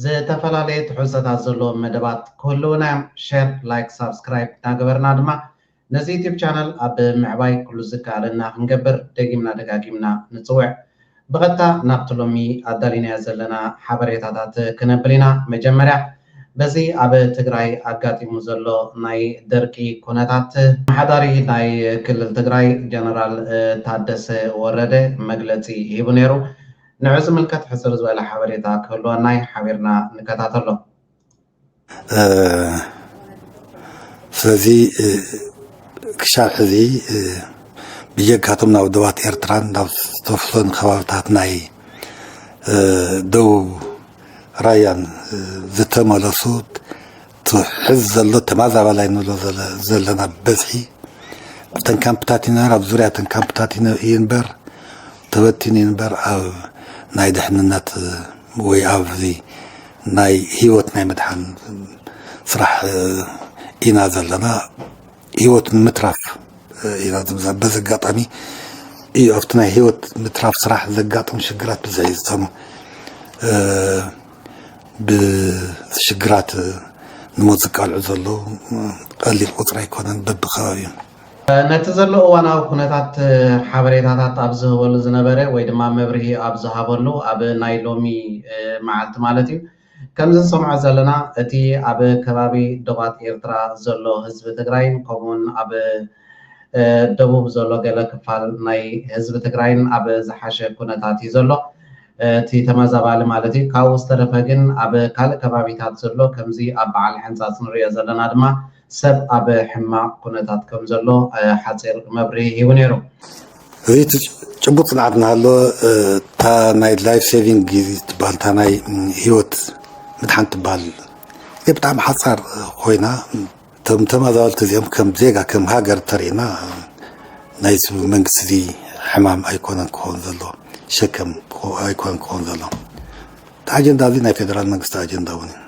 ዝተፈላለየ ትሕዝቶታት ዘለዎም መደባት ክህልዉና እዮም። ሸር፣ ላይክ፣ ሳብስክራይብ እናገበርና ድማ ነዚ ዩቱብ ቻነል ኣብ ምዕባይ ኩሉ ዝከኣለና ክንገብር ደጊምና ደጋጊምና ንጽውዕ። ብቐጥታ ናብቲ ሎሚ ኣዳሊናዮ ዘለና ሓበሬታታት ክነብል ኢና። መጀመርያ በዚ ኣብ ትግራይ ኣጋጢሙ ዘሎ ናይ ደርቂ ኩነታት፣ ኣመሓዳሪ ናይ ክልል ትግራይ ጀነራል ታደሰ ወረደ መግለጺ ሂቡ ነይሩ። ንዑ ዝምልከት ሕጽር ዝበለ ሓበሬታ ክህልወና እዩ ሓቢርና ንከታተሎ። ስለዚ ክሻብ ሕዚ ብጀካቶም ናብ ደባት ኤርትራን ናብ ዝተፍሶን ከባብታት ናይ ደቡብ ራያን ዝተመለሱ እቲ ሕዚ ዘሎ ተማዛባላይ ንብሎ ዘለና ብበዝሒ ኣብተን ካምፕታት ይንበር ኣብ ዙርያ ተን ካምፕታት ይንበር ተበቲኑ ይንበር ኣብ ናይ ድሕንነት ወይ ኣብዚ ናይ ህይወት ናይ ምድሓን ስራሕ ኢና ዘለና ህይወት ንምትራፍ ኢና ዝምዛ በዚ ኣጋጣሚ እዩ ኣብቲ ናይ ህይወት ምትራፍ ስራሕ ዘጋጥሙ ሽግራት ብዝሒ ዝሰሙ ብሽግራት ንሞት ዝቃልዑ ዘለዉ ቀሊል ቁፅሪ ኣይኮነን በቢከባቢኡ። ነቲ ዘሎ እዋናዊ ኩነታት ሓበሬታታት ኣብ ዝህበሉ ዝነበረ ወይ ድማ መብርሂ ኣብ ዝሃበሉ ኣብ ናይ ሎሚ መዓልቲ ማለት እዩ ከምዚ ንሰምዖ ዘለና እቲ ኣብ ከባቢ ዶባት ኤርትራ ዘሎ ህዝቢ ትግራይን ከምኡ ውን ኣብ ደቡብ ዘሎ ገለ ክፋል ናይ ህዝቢ ትግራይን ኣብ ዝሓሸ ኩነታት እዩ ዘሎ። እቲ ተመዛባሊ ማለት እዩ። ካብኡ ዝተረፈ ግን ኣብ ካልእ ከባቢታት ዘሎ ከምዚ ኣብ በዓል ሕንጻጽ ንርእዮ ዘለና ድማ ሰብ ኣብ ሕማቕ ኩነታት ከም ዘሎ ሓጺር መብርሂ ሂቡ ነይሩ። እዚ እቲ ጭቡጥ ጽንዓት እናሃለወ እታ ናይ ላይፍ ሴቪንግ ጊዝ ትበሃል እታ ናይ ህይወት ምድሓን ትበሃል ጊዜ ብጣዕሚ ሓጻር ኮይና እቶም ተማዛበልቲ እዚኦም ከም ዜጋ ከም ሃገር ተሪእና ናይዚ መንግስቲ እዚ ሕማም ኣይኮነን ክኸውን ዘለዎ ሸከም ኣይኮነን ክኸውን ዘለዎ እቲ ኣጀንዳ እዚ ናይ ፌደራል መንግስቲ ኣጀንዳ እውን እዩ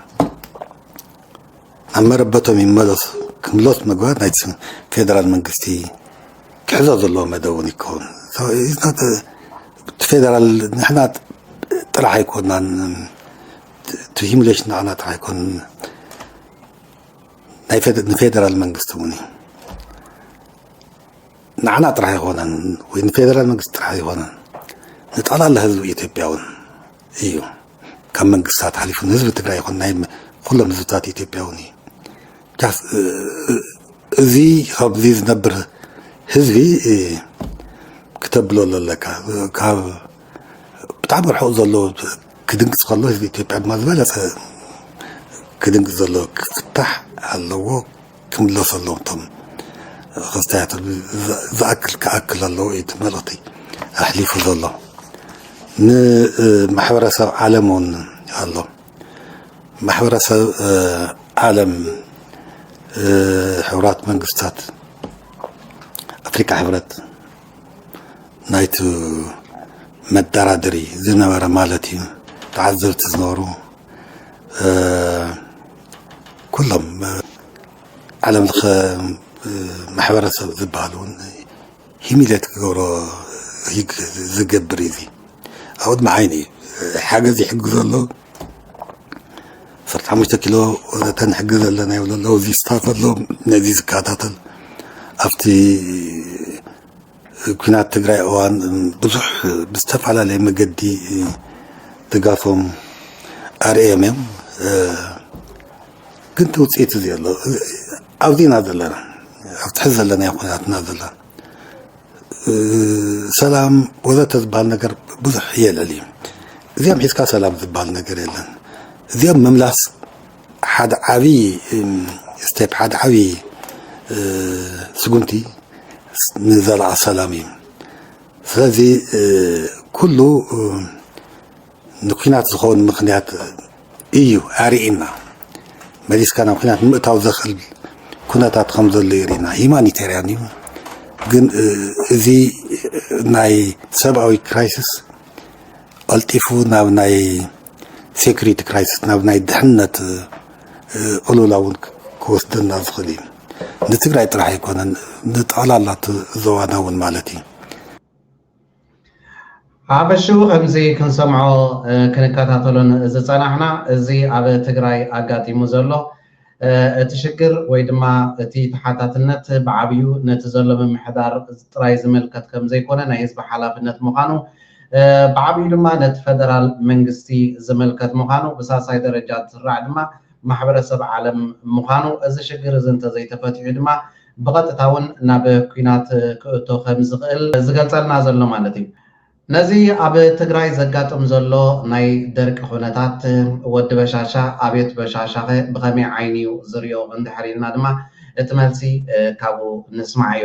ናብ መረበቶም ይመለሱ ክምለሱ ምግባር ናይቲ ፌደራል መንግስቲ ክሕዞ ዘለዎ መደብ እውን ይከውን ፌደራል ንሕና ጥራሕ ኣይኮናን እቲ ሂሙሌሽን ንዓና ጥራሕ ኣይኮንን ናይ ፌደ- ንፌደራል መንግስቲ እውን እዩ ንዓና ጥራሕ ኣይኮነን ወይ ንፌደራል መንግስቲ ጥራሕ ኣይኮነን ንጠቕላላ ህዝቢ ኢትዮጵያ እውን እዩ ካብ መንግስታት ሓሊፉ ንህዝቢ ትግራይ ይኹን ናይ ም- ኩሎም ህዝብታት ኢትዮጵያ እውን እዩ ጃስ- እ- እ- እዚ ካብዚ ዝነብር ህዝቢ እ፣ ክተብሎ ኣለካ ካብ ብጣዕሚ ርሑቕ ዘሎ ክድንግፅ ከሎ ህዝቢ ኢትዮጵያ ድማ ዝበለፀ ክድንግፅ ዘሎ ክፍታሕ ኣለዎ ክምለሱ ኣለዎም እቶም ክስታያት ዝኣክል ክኣክል ኣለዎ እዩ እቲ መልእኽቲ ኣሕሊፉ ዘሎ ንማሕበረሰብ ዓለም እውን ኣሎ ማሕበረሰብ ዓለም ሕቡራት መንግስታት ኣፍሪካ ሕብረት ናይቲ መዳራደሪ ዝነበረ ማለት እዩ ተዓዘብቲ ዝነበሩ ኩሎም ዓለም ለኸ ማሕበረሰብ ዝበሃል እውን ሂሚሌት ክገብሮ ዝገብር እዩ እዚ ኣብኡ ድማ ዓይኒ እዩ ሓገዝ ይሕግዞ ኣሎ ዓሰርተ ሓሙሽተ ኪሎ ተንሕግዝ ኣለና ይብሉ ኣለዉ እዚ ስታት ኣሎ ነዚ ዝከታተል ኣብቲ ኩናት ትግራይ እዋን ብዙሕ ብዝተፈላለየ መገዲ ድጋፎም ኣርእዮም እዮም ግን እቲ ውፅኢት እዚ ኣሎ ኣብዚና ዘለና ኣብቲ ሕዚ ዘለናዮ ኩናትና ዘለና ሰላም ወዘተ ዝበሃል ነገር ብዙሕ የልዕል እዩ እዚኦም ሒዝካ ሰላም ዝበሃል ነገር የለን እዚኦም ምምላስ ሓደ ዓብዪ ስቴፕ ሓደ ዓብዪ ስጉምቲ ንዘላቂ ሰላም እዩ ስለዚ ኩሉ ንኲናት ዝኸውን ምኽንያት እዩ ኣርእና መሊስካ ናብ ኲናት ንምእታው ዘኽእል ኩነታት ከም ዘሎ የርእና ሂማኒቴርያን እዩ ግን እዚ ናይ ሰብኣዊ ክራይሲስ ቀልጢፉ ናብ ናይ ሴኩሪቲ ክራይሲስ ናብ ናይ ድሕነት ቅሉላ እውን ክወስደና ዝኽእል እዩ ንትግራይ ጥራሕ ኣይኮነን ንጠቕላላ እቲ ዞባና እውን ማለት እዩ ሓፈሽኡ ከምዚ ክንሰምዖ ክንከታተሎን ዝጸናሕና እዚ ኣብ ትግራይ ኣጋጢሙ ዘሎ እቲ ሽግር ወይ ድማ እቲ ተሓታትነት ብዓብዩ ነቲ ዘሎ ምምሕዳር ጥራይ ዝምልከት ከምዘይኮነ ናይ ህዝቢ ሓላፍነት ምዃኑ ብዓብዩ ድማ ነቲ ፈደራል መንግስቲ ዝምልከት ምዃኑ ብሳልሳይ ደረጃ ዝስራዕ ድማ ማሕበረሰብ ዓለም ምዃኑ እዚ ሽግር እዚ እንተዘይተፈቲሑ ድማ ብቐጥታ እውን ናብ ኲናት ክእቶ ከምዝኽእል ዝገልጸልና ዘሎ ማለት እዩ። ነዚ ኣብ ትግራይ ዘጋጥም ዘሎ ናይ ደርቂ ኩነታት ወዲ በሻሻ ኣብዮት በሻሻኸ ብኸመይ ዓይኒ እዩ ዝሪኦ እንድሕር ኢልና ድማ እቲ መልሲ ካብኡ ንስማዕዮ።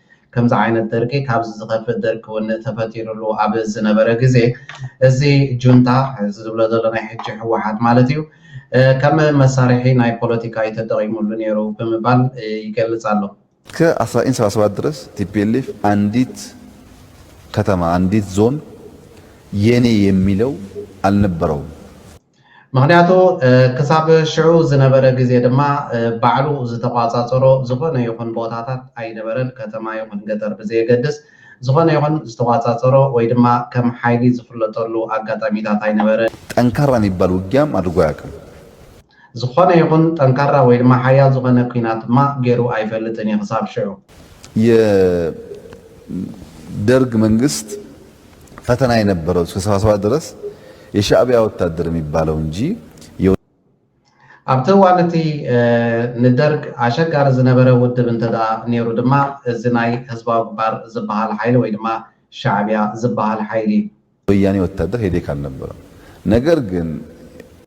ከምዚ ዓይነት ደርቂ ካብዚ ዝኸፍእ ደርቂ እውን ተፈጢሩሉ ኣብ ዝነበረ ግዜ እዚ ጁንታ እዚ ዝብሎ ዘሎ ናይ ሕጂ ህወሓት ማለት እዩ ከም መሳርሒ ናይ ፖለቲካ እዩ ተጠቒሙሉ ነይሩ ብምባል ይገልጽ ኣሎ። እስከ ኣስራ ዘጠኝ ሰባ ሰባት ድረስ ቲፒኤልኤፍ ኣንዲት ከተማ ኣንዲት ዞን የኔ የሚለው ኣልነበረውም። ምኽንያቱ ክሳብ ሽዑ ዝነበረ ግዜ ድማ ባዕሉ ዝተቋጻጸሮ ዝኾነ ይኹን ቦታታት ኣይነበረን፣ ከተማ ይኹን ገጠር ብዘየገድስ ዝኾነ ይኹን ዝተቋጻጸሮ ወይ ድማ ከም ሓይሊ ዝፍለጠሉ ኣጋጣሚታት ኣይነበረን። ጠንካራ ሚባል ውጊያም ኣድርጎ ኣያቅም። ዝኾነ ይኹን ጠንካራ ወይ ድማ ሓያል ዝኾነ ኩናት ድማ ጌሩ ኣይፈልጥን እዩ ክሳብ ሽዑ። የደርግ መንግስት ፈተና የነበረው እስከ ሰባ ሰባት ድረስ የሻእቢያ ወታደር የሚባለው እንጂ ኣብቲ እዋን እቲ ንደርግ ኣሸጋሪ ዝነበረ ውድብ እንተድኣ ነይሩ ድማ እዚ ናይ ህዝባዊ ግንባር ዝበሃል ሓይሊ ወይ ድማ ሻዕቢያ ዝበሃል ሓይሊ። ወያኔ ወታደር ሄዴክ ኣልነበረም ነገር ግን።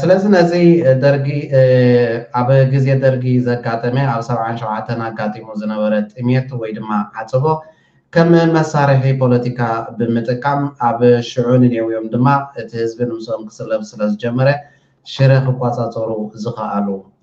ስለዚ ነዚ ደርጊ ኣብ ግዜ ደርጊ ዘጋጠመ ኣብ ሰብዓን ሸውዓተን ኣጋጢሙ ዝነበረ ጥሜት ወይ ድማ ዓጽቦ ከም መሳርሒ ፖለቲካ ብምጥቃም ኣብ ሽዑ ንኔውዮም ድማ እቲ ህዝቢ ንምስኦም ክስለፍ ስለዝጀመረ ሽረ ክቆጻጸሩ ዝኸኣሉ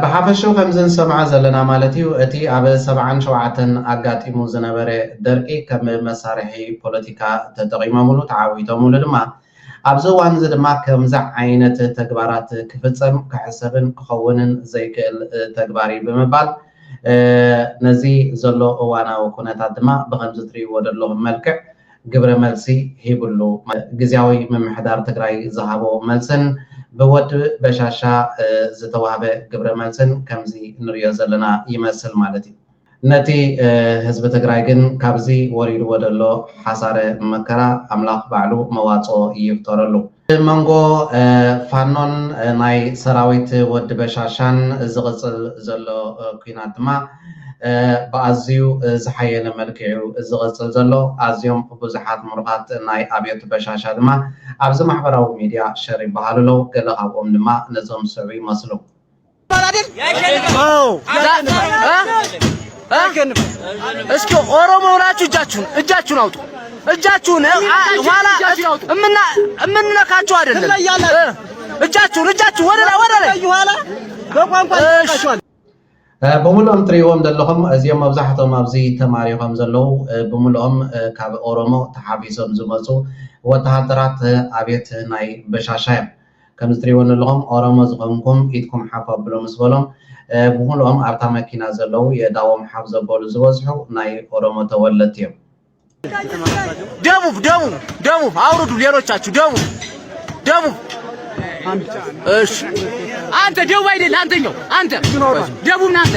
ብሓፈሽኡ ከምዚ ንሰምዖ ዘለና ማለት እዩ እቲ ኣብ ሰብዓን ሸውዓተን ኣጋጢሙ ዝነበረ ደርቂ ከም መሳርሒ ፖለቲካ ተጠቒሞምሉ ተዓዊቶምሉ ድማ ኣብዚ እዋን እዚ ድማ ከምዚ ዓይነት ተግባራት ክፍፀም ክሕሰብን ክኸውንን ዘይክእል ተግባር እዩ ብምባል ነዚ ዘሎ እዋናዊ ኩነታት ድማ ብከምዚ ትሪእዎ ዘለኹም መልክዕ ግብረ መልሲ ሂብሉ። ግዝያዊ ምምሕዳር ትግራይ ዝሃቦ መልስን ብወዲ በሻሻ ዝተዋህበ ግብረ መልስን ከምዚ ንሪኦ ዘለና ይመስል ማለት እዩ። ነቲ ህዝቢ ትግራይ ግን ካብዚ ወሪድዎ ዘሎ ሓሳረ መከራ ኣምላኽ ባዕሉ መዋፅኦ ይፍጠረሉ። ኣብ መንጎ ፋኖን ናይ ሰራዊት ወዲ በሻሻን ዝቕጽል ዘሎ ኲናት ድማ ብኣዝዩ ዝሓየለ መልክዕ'ዩ ዝቕጽል ዘሎ። ኣዝዮም ብዙሓት ምሩኻት ናይ ኣብዮት በሻሻ ድማ ኣብዚ ማሕበራዊ ሚድያ ሸር ይበሃሉ ኣለዉ፣ ገለ ካብኦም ድማ ነዞም ዝስዕቡ ይመስሉ። እስኪ ኦሮሞ ሆናችሁ እጃችሁን እጃችሁን አውጡ። እጃችሁን ኋላ እምንነካችሁ አይደለም። እጃችሁን እጃችሁ ወደ ላይ ወደ ላይ በቋንቋ ብምሉኦም ትሪእዎም ዘለኹም እዚኦም መብዛሕቶም ኣብዚ ተማሪኾም ዘለዉ ብምሉኦም ካብ ኦሮሞ ተሓቢሶም ዝመፁ ወተሃደራት ኣብየት ናይ በሻሻ እዮም ከምዚ ትሪእዎ ዘለኹም ኦሮሞ ዝኾንኩም ኢድኩም ሓፍ ኣብሉ ምስ በሎም ብምሉኦም ኣብታ መኪና ዘለዉ የእዳዎም ሓፍ ዘበሉ ዝበዝሑ ናይ ኦሮሞ ተወለድቲ እዮም። ደቡብ ደቡብ ደቡብ አውርዱ። ሌሎቻችሁ ደቡብ ደቡብ እሺ። አንተ ደቡብ አይደል? አንተኛው አንተ ደቡብ ነህ አንተ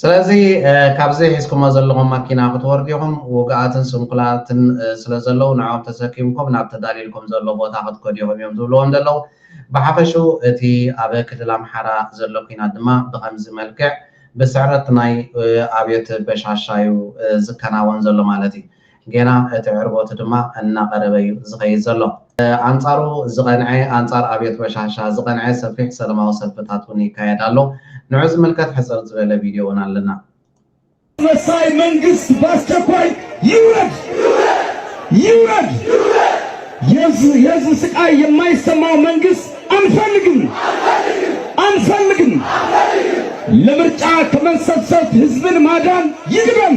ስለዚ ካብዚ ሒዝኩሞ ዘለኹም ማኪና ክትወርዱ ኢኹም። ውጉኣትን ስንኩላትን ስለ ዘለዉ ንዕኦም ተሰኪምኩም ናብ ተዳልዩልኩም ዘሎ ቦታ ክትከዱ ኢኹም እዮም ዝብልዎም ዘለዉ። ብሓፈሽኡ እቲ ኣብ ክልል ኣምሓራ ዘሎ ኲናት ድማ ብኸምዚ መልክዕ ብስዕረት ናይ ኣብዮት በሻሻ'ዩ ዝከናወን ዘሎ ማለት እዩ። ጌና እቲ ዕርቦት ድማ እናቐረበ'ዩ ዝኸይድ ዘሎ። ኣንጻሩ ዝቐንዐ፣ ኣንጻር ኣብዮት በሻሻ ዝቐንዐ ሰፊሕ ሰለማዊ ሰልፍታት ውን ይካየድ ኣሎ። ንዑ ዝምልከት ሕጽር ዝበለ ቪድዮ ውን ኣለና። ኣስመሳይ መንግስት ባስቸኳይ ይውረድ ይውረድ የህዝብ ስቃይ የማይሰማው መንግስት ኣንፈልግም ኣንፈልግም ለምርጫ ከመንሰብሰብ ህዝብን ማዳን ይቅደም።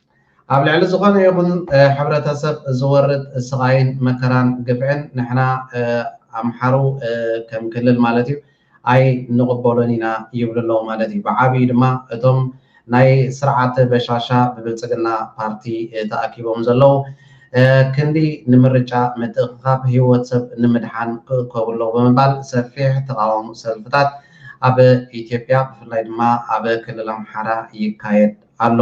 ኣብ ልዕሊ ዝኾነ ይኹን ሕብረተሰብ ዝወርድ ስቓይን መከራን ግፍዕን ንሕና ኣምሓሩ ከም ክልል ማለት እዩ ኣይንቕበሎን ኢና ይብሉ ኣለዉ ማለት እዩ። ብዓብዩ ድማ እቶም ናይ ስርዓት በሻሻ ብብልፅግና ፓርቲ ተኣኪቦም ዘለዉ ክንዲ ንምርጫ ምትእኽኻብ ህይወት ሰብ ንምድሓን ክእከቡ ኣለዉ ብምባል ሰፊሕ ተቓውሞ ሰልፍታት ኣብ ኢትዮጵያ ብፍላይ ድማ ኣብ ክልል ኣምሓራ ይካየድ ኣሎ።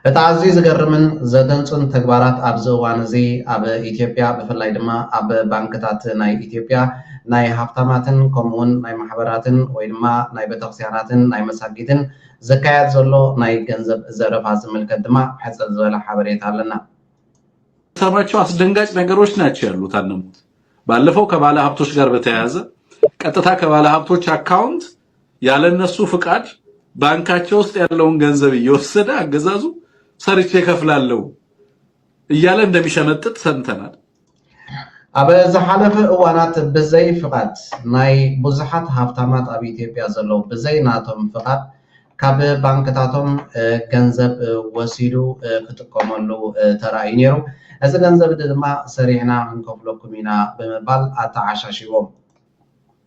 እቲ ኣዝዩ ዝገርምን ዘደንጹን ተግባራት ኣብዚ እዋን እዚ ኣብ ኢትዮጵያ ብፍላይ ድማ ኣብ ባንክታት ናይ ኢትዮጵያ ናይ ሃብታማትን ከምኡውን ናይ ማሕበራትን ወይ ድማ ናይ ቤተክርስቲያናትን ናይ መሳጊድን ዝካየድ ዘሎ ናይ ገንዘብ ዘረፋ ዝምልከት ድማ ሕጽር ዝበለ ሓበሬታ ኣለና። ሰራቸው አስደንጋጭ ነገሮች ናቸው ያሉት አለሙት ባለፈው ከባለ ሀብቶች ጋር በተያያዘ ቀጥታ ከባለ ሀብቶች አካውንት ያለነሱ ፍቃድ ባንካቸው ውስጥ ያለውን ገንዘብ እየወሰደ አገዛዙ ሰርቼ ከፍላለው እያለ እንደሚሸመጥጥ ሰምተናል። ኣብ ዝሓለፈ እዋናት ብዘይ ፍቓድ ናይ ብዙሓት ሃብታማት ኣብ ኢትዮጵያ ዘለዉ ብዘይ ናቶም ፍቓድ ካብ ባንክታቶም ገንዘብ ወሲዱ ክጥቀመሉ ተራእዩ ነይሩ። እዚ ገንዘብ ድማ ሰሪሕና ክንከፍለኩም ኢና ብምባል ኣተዓሻሽዎም።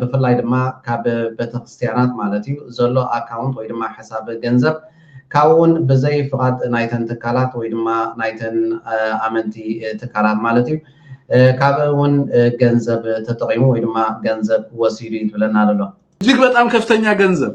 ብፍላይ ድማ ካብ ቤተክርስትያናት ማለት እዩ ዘሎ ኣካውንት ወይ ድማ ሕሳብ ገንዘብ ካብኡ እውን ብዘይ ፍቓድ ናይተን ትካላት ወይ ድማ ናይተን ኣመንቲ ትካላት ማለት እዩ ካብ እውን ገንዘብ ተጠቂሙ ወይ ድማ ገንዘብ ወሲዱ እዩ ዝብለና ዘሎ እጅግ በጣም ከፍተኛ ገንዘብ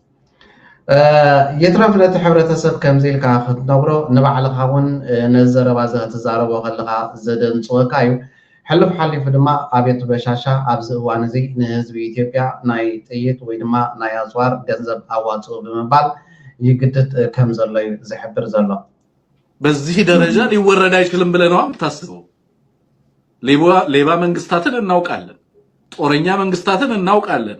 ይትረፍ ነቲ ሕብረተሰብ ከምዚ ኢልካ ክትነግሮ ንባዕልኻ እውን ነዚ ዘረባ እዚ ክትዛረቦ ከለኻ ዘደንፅወካ እዩ ሕልፍ ሓሊፉ ድማ ኣቤቱ በሻሻ ኣብዚ እዋን እዚ ንህዝቢ ኢትዮጵያ ናይ ጥይት ወይ ድማ ናይ ኣፅዋር ገንዘብ ኣዋፅኡ ብምባል ይግድድ ከም ዘሎ እዩ ዝሕብር ዘሎ በዚህ ደረጃ ሊወረድ አይችልም ብለህ ነው የምታስበው? ሌባ መንግስታትን እናውቃለን፣ ጦረኛ መንግስታትን እናውቃለን።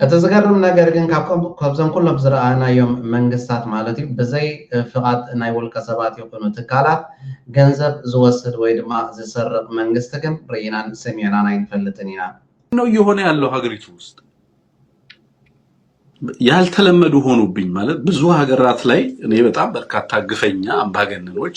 እቲ ዝገርም ነገር ግን ካብዞም ኩሎም ዝረኣናዮም መንግስታት ማለት እዩ ብዘይ ፍቓድ ናይ ውልቀ ሰባት ይኹኑ ትካላት ገንዘብ ዝወስድ ወይ ድማ ዝሰርቕ መንግስቲ ግን ርኢናን ሰሚዕናን ኣይንፈልጥን ኢና። ነው እየሆነ ያለው ሀገሪቱ ውስጥ ያልተለመዱ ሆኑብኝ ማለት ብዙ ሀገራት ላይ እኔ በጣም በርካታ ግፈኛ አምባገነኖች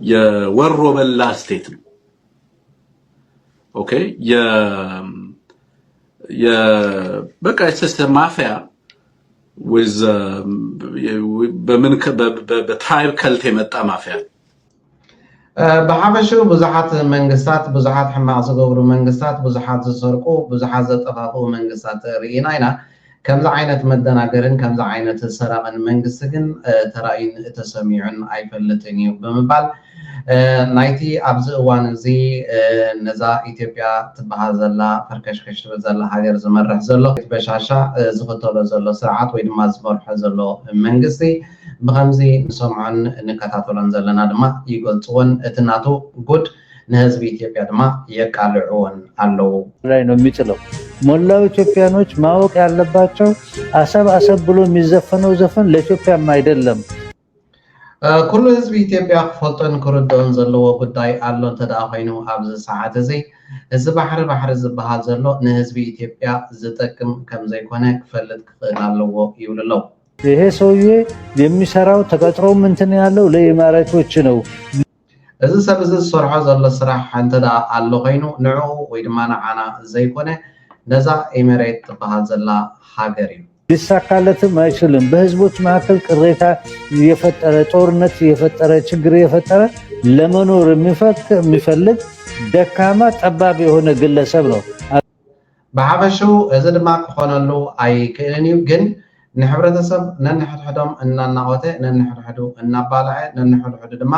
የወሮ በላ ስቴት ነው። ኦኬ በቃ የተሰ ማፊያ በምን በትራይብ ከልት የመጣ ማፊያ ብሓፈሹ ብዙሓት መንግስታት ብዙሓት ሕማቅ ዝገብሩ መንግስታት ብዙሓት ዝሰርቁ ብዙሓት ዘጠፋፍኡ መንግስታት ርኢና ኢና ከምዚ ዓይነት መደናገርን ከምዚ ዓይነት ሰራቕን መንግስቲ ግን ተራእዩን ተሰሚዑን ኣይፈልጥን እዩ ብምባል ናይቲ ኣብዚ እዋን እዚ ነዛ ኢትዮጵያ ትበሃል ዘላ ፈርከሽከሽ ትብል ዘላ ሃገር ዝመርሕ ዘሎ በሻሻ ዝኽተሎ ዘሎ ስርዓት ወይ ድማ ዝመርሖ ዘሎ መንግስቲ ብኸምዚ ንሰምዖን ንከታተሎን ዘለና ድማ ይገልፅዎን እቲ ናቱ ጉድ ንህዝቢ ኢትዮጵያ ድማ የቃልዕዎን ኣለው። ላይ ነው የሚጥለው። ሞላው ኢትዮጵያኖች ማወቅ ያለባቸው አሰብ አሰብ ብሎ የሚዘፈነው ዘፈን ለኢትዮጵያም አይደለም። ኩሉ ህዝቢ ኢትዮጵያ ክፈልጦን ክርድኦን ዘለዎ ጉዳይ ኣሎ እንተ ኮይኑ ኣብዚ ሰዓት እዚ እዚ ባሕሪ ባሕሪ ዝበሃል ዘሎ ንህዝቢ ኢትዮጵያ ዝጠቅም ከም ዘይኮነ ክፈልጥ ክኽእል ኣለዎ ይብሉ ኣለዉ። ይሄ ሰውዬ የሚሰራው ተቀጥሮም እንትን ያለው ለኢማራቶች ነው። እዚ ሰብ እዚ ዝሰርሖ ዘሎ ስራሕ እንተድኣ ኣሎ ኮይኑ ንዕኡ ወይ ድማ ንዓና ዘይኮነ ነዛ ኤመሬት ትብሃል ዘላ ሃገር እዩ። ሊሳካለትም ኣይችልም በህዝቦች መሀከል ቅሬታ እየፈጠረ ጦርነት እየፈጠረ ችግር እየፈጠረ ለመኖር የሚፈልግ ደካማ ጠባብ የሆነ ግለሰብ ነው። ብሓፈሽኡ እዚ ድማ ክኾነሉ ኣይክእልን እዩ ግን ንሕብረተሰብ ነንሕድሕዶም እናናቖተ ነንሕድሕዱ እናባልዐ ነንሕድሕዱ ድማ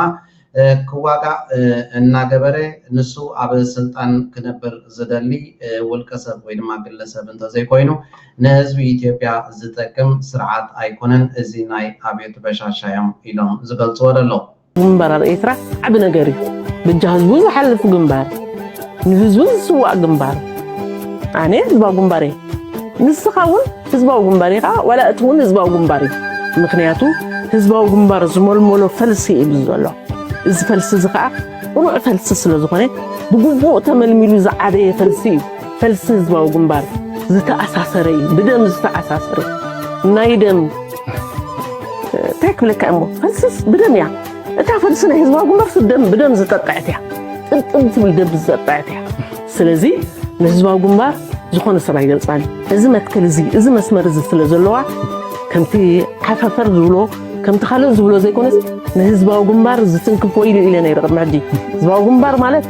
ክዋጋእ እናገበረ ንሱ ኣብ ስልጣን ክነብር ዝደሊ ውልቀሰብ ወይ ድማ ግለሰብ እንተዘይኮይኑ ንህዝቢ ኢትዮጵያ ዝጠቅም ስርዓት ኣይኮነን እዚ ናይ ኣብዮት በሻሻ እዮም ኢሎም ዝገልፅዎ ደለዉ። ግንባር ኣብ ኤርትራ ዓቢ ነገር እዩ ብጃ ህዝቡ ዝሓልፍ ግንባር ንህዝቡ ዝስዋእ ግንባር ኣነ ህዝባዊ ግንባር እየ ንስኻ እውን ህዝባዊ ግንባር ኢኻ ዋላ እቲ እውን ህዝባዊ ግንባር እዩ ምክንያቱ ህዝባዊ ግንባር ዝመልመሎ ፈልሲ እዩ ዘሎ እዚ ፈልሲ እዚ ከዓ ቅኑዕ ፈልሲ ስለ ዝኾነ ብግቡእ ተመልሚሉ ዝዓበየ ፈልሲ እዩ ፈልሲ ህዝባዊ ግንባር ዝተኣሳሰረ እዩ ብደም ዝተኣሳሰረ ናይ ደም እንታይ ክብለካ እሞ ፈልስስ ብደም እያ እታ ፈልሲ ናይ ህዝባዊ ግንባር ደም ብደም ዝጠጠዐት እያ ጥልጥል ትብል ደም ዝጠጠዐት እያ ስለዚ ንህዝባዊ ግንባር ዝኾነ ሰብ ኣይገልፃን እዚ መትከል እዚ እዚ መስመር እዚ ስለ ዘለዋ ከምቲ ሓፈፈር ዝብሎ ከምቲ ካልእ ዝብሎ ዘይኮነስ ንህዝባዊ ግንባር ዝትንክፍ ወይሉ ኢለ ነይረ ቅድሚ ሕጂ ህዝባዊ ግንባር ማለት